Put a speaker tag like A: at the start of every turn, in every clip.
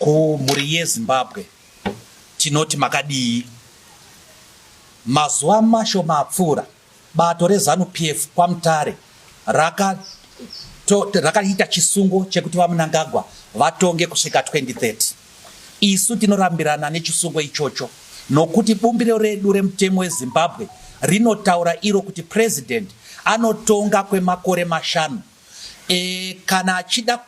A: Kumhuri yeZimbabwe tinoti makadii? Mazuva mashoma apfuura, bato reZanu PF kwaMutare rakaita raka chisungo chekuti VaMnangagwa vatonge kusvika 2030. Isu tinorambirana nechisungo ichocho nokuti bumbiro redu remutemo weZimbabwe rinotaura iro kuti president anotonga kwemakore mashanu e, kana achida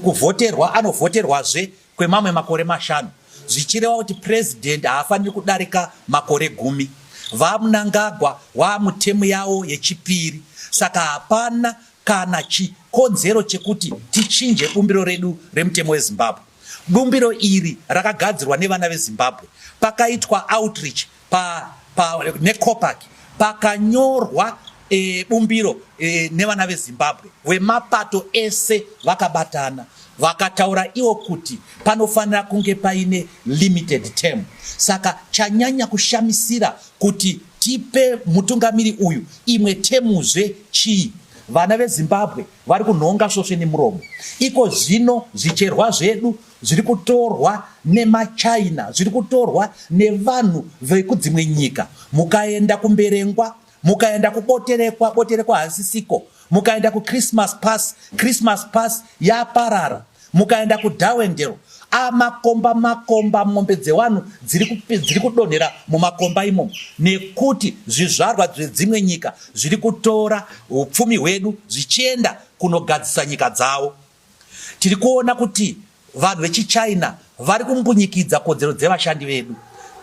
A: kuvhoterwa anovhoterwazve kwemamwe makore mashanu zvichireva kuti purezidhendi haafaniri kudarika makore gumi vamunangagwa waamutemu yawo yechipiri saka hapana kana chikonzero chekuti tichinje bumbiro redu remutemo wezimbabwe bumbiro iri rakagadzirwa nevana vezimbabwe pakaitwa outreach pa pa necopac pakanyorwa e, bumbiro e, nevana vezimbabwe vemapato ese vakabatana vakataura iwo kuti panofanira kunge paine limited term saka chanyanya kushamisira kuti tipe mutungamiri uyu imwe temuzve chii vana vezimbabwe vari kunhonga svosve nemuromo iko zvino zvicherwa zvedu zviri kutorwa nemaChina, zviri kutorwa nevanhu vekudzimwe nyika. Mukaenda kuMberengwa, mukaenda kuBoterekwa, Boterekwa hasisiko, mukaenda kuChristmas Pass, Christmas Pass yaparara, mukaenda kuDarwendale amakomba makomba mombe dzevanhu dziri kudonhera mumakomba imomo nekuti zvizvarwa zvedzimwe nyika zviri kutora upfumi hwedu zvichienda kunogadzisa nyika dzavo Tiri kuona kuti vanhu vechichina vari kumbunyikidza kodzero dzevashandi vedu.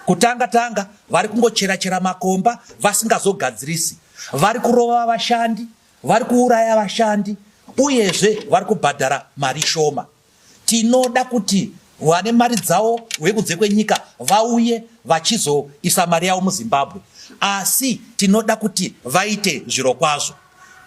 A: Kutanga tanga vari kungochera chera makomba vasingazogadzirisi, vari kurova vashandi, vari kuuraya vashandi uyezve vari kubhadhara mari shoma. Tinoda kuti vane mari dzavo vekunze kwenyika vauye vachizoisa mari yavo muZimbabwe, asi tinoda kuti vaite zvirokwazvo.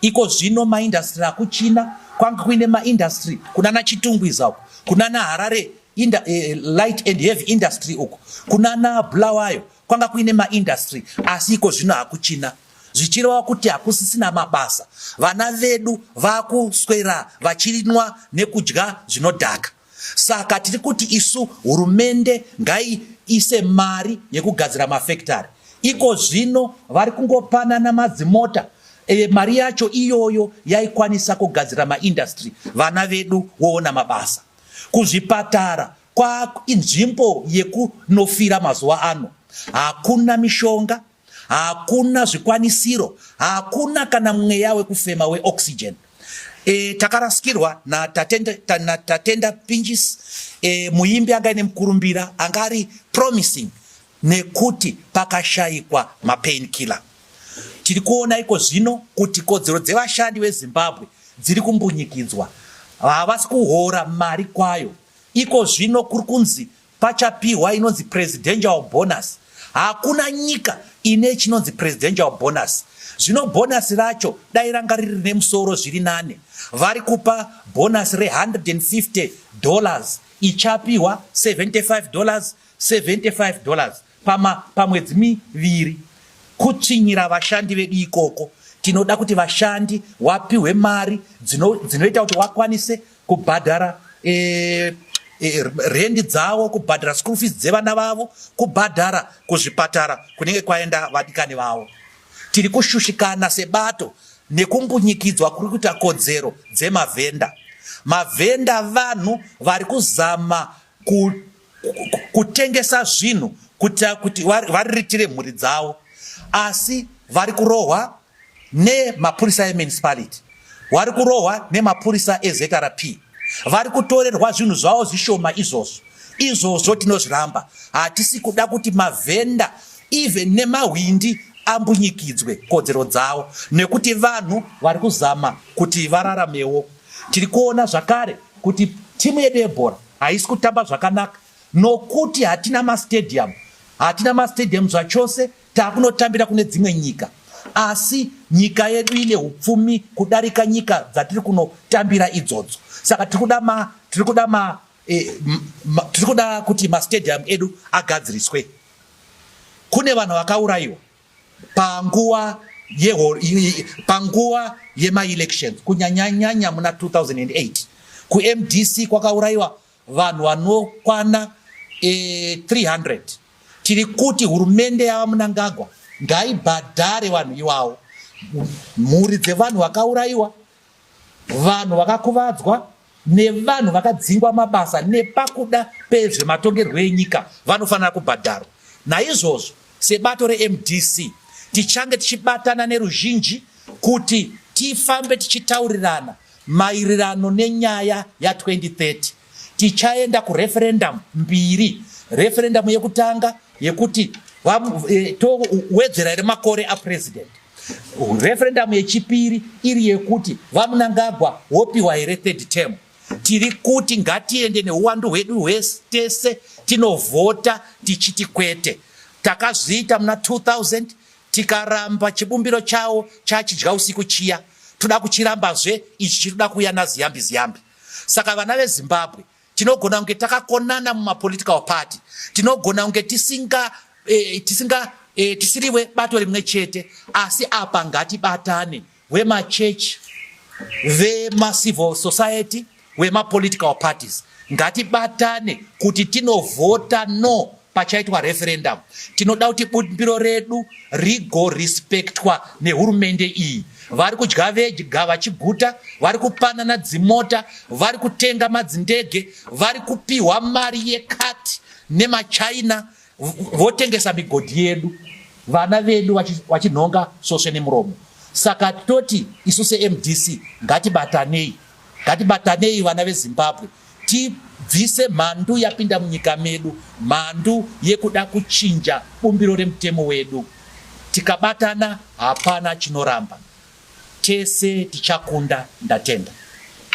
A: Iko zvino maindastri akuChina kwange kuine maindastri kunana Chitungwiza uko kunana Harare inda, eh, light and heavy industry uko kunana Bulawayo kwanga kuine maindastri asi iko zvino hakuchina zvichireva kuti hakusisina mabasa vana vedu vakuswera vachinwa nekudya zvinodhaka Saka tiri kuti isu hurumende ngaiise mari yekugadzira mafekitari. Iko zvino vari kungopanana madzimota e, mari yacho iyoyo yaikwanisa kugadzira maindastry vana vedu woona mabasa. Kuzvipatara kwainzvimbo yekunofira mazuva ano, hakuna mishonga hakuna zvikwanisiro, hakuna kana mweya wekufema weoxygen. E, takarasikirwa natatenda ta, na tatenda Pinjis e, muimbi anga ine mukurumbira anga ari promising nekuti pakashaikwa mapain killer. Tiri kuona iko zvino kuti kodzero dzevashandi veZimbabwe dziri kumbunyikidzwa, havasi kuhora mari kwayo. Iko zvino kuri kunzi Pachapihwa inonzi presidential bonus. Hakuna nyika ine chinonzi presidential bonus. Zvino bonus racho dai ranga riri rine musoro zviri nane. Vari kupa bonus re 150 dollars ichapihwa 75 dollars 75 dollars. pama pamwedzi miviri kutsvinyira vashandi vedu ikoko tinoda kuti vashandi wapihwe mari dzinoita dzino kuti wakwanise kubhadhara e, e, rendi dzavo kubhadhara school fees dzevana vavo kubhadhara kuzvipatara kunenge kwaenda vadikani vavo tiri kushushikana sebato nekumbunyikidzwa kuri kuita kodzero dzemavhenda mavhenda vanhu vari kuzama ku kutengesa zvinhu kuitira kuti variritire mhuri dzavo asi vari kurohwa nemapurisa emunicipality vari kurohwa nemapurisa ezrp vari kutorerwa zvinhu zvavo zvishoma izvozvo izvozvo tinozviramba hatisi kuda kuti mavhenda even nemahwindi ambunyikidzwe kodzero dzavo nekuti vanhu vari kuzama kuti vararamewo tiri kuona zvakare kuti timu yedu yebhora Haisi kutamba zvakanaka nokuti hatina mastadium, hatina mastadium zvachose, takunotambira kune dzimwe nyika asi nyika yedu ine upfumi kudarika nyika dzatiri kunotambira idzodzo saka tiri kuda ma tiri kuda ma eh, tiri kuda kuti mastadium edu agadziriswe kune vanhu vakaurayiwa panguva panguva yemaelections kunyanyanyanya muna 2008 kumdc kwakaurayiwa vanhu vanokwana e, eh, 300 tiri kuti hurumende yava munangagwa ngaibhadhare vanhu iwawo mhuri dzevanhu vakaurayiwa Vanhu vakakuvadzwa nevanhu vakadzingwa mabasa nepakuda pezvematongerwo enyika vanofanira kubhadharwa. Naizvozvo sebato reMDC tichange tichibatana neruzhinji kuti tifambe tichitaurirana maererano nenyaya ya 2030. Tichaenda kureferendum mbiri, referendum yekutanga yekuti e, towedzera here makore apresident, referendum yechipiri iri yekuti VaMnangagwa wopiwa here third term. Tiri kuti ngatiende neuwandu hwedu hwese tese tinovhota tichiti kwete. Takazviita muna 2000 tikaramba chibumbiro chawo chachidya usiku chiya, toda kuchirambazve ichi chiri kuda kuuya naziyambi ziyambi. Saka vana veZimbabwe tinogona kunge takakonana mumapolitical party, tinogona kunge tisinga eh, tisinga eh, tisiriwe bato rimwe chete, asi apa ngatibatane wemachurch, vemacivil society, wemapolitical parties ngatibatane kuti tinovhota no pachaitwa referendum tinoda kuti bumbiro redu rigorespectwa nehurumende iyi vari kudya vega vachiguta vari kupanana dzimota vari kutenga madzindege vari kupiwa mari yekati nemachina votengesa migodhi yedu vana vedu vachinhonga sosve nemuromo saka toti isu semdc ngatibatanei Ngatibatanei vana veZimbabwe tibvise mhandu yapinda munyika medu, mhandu yekuda kuchinja bumbiro remutemo wedu. Tikabatana hapana chinoramba, tese tichakunda. Ndatenda.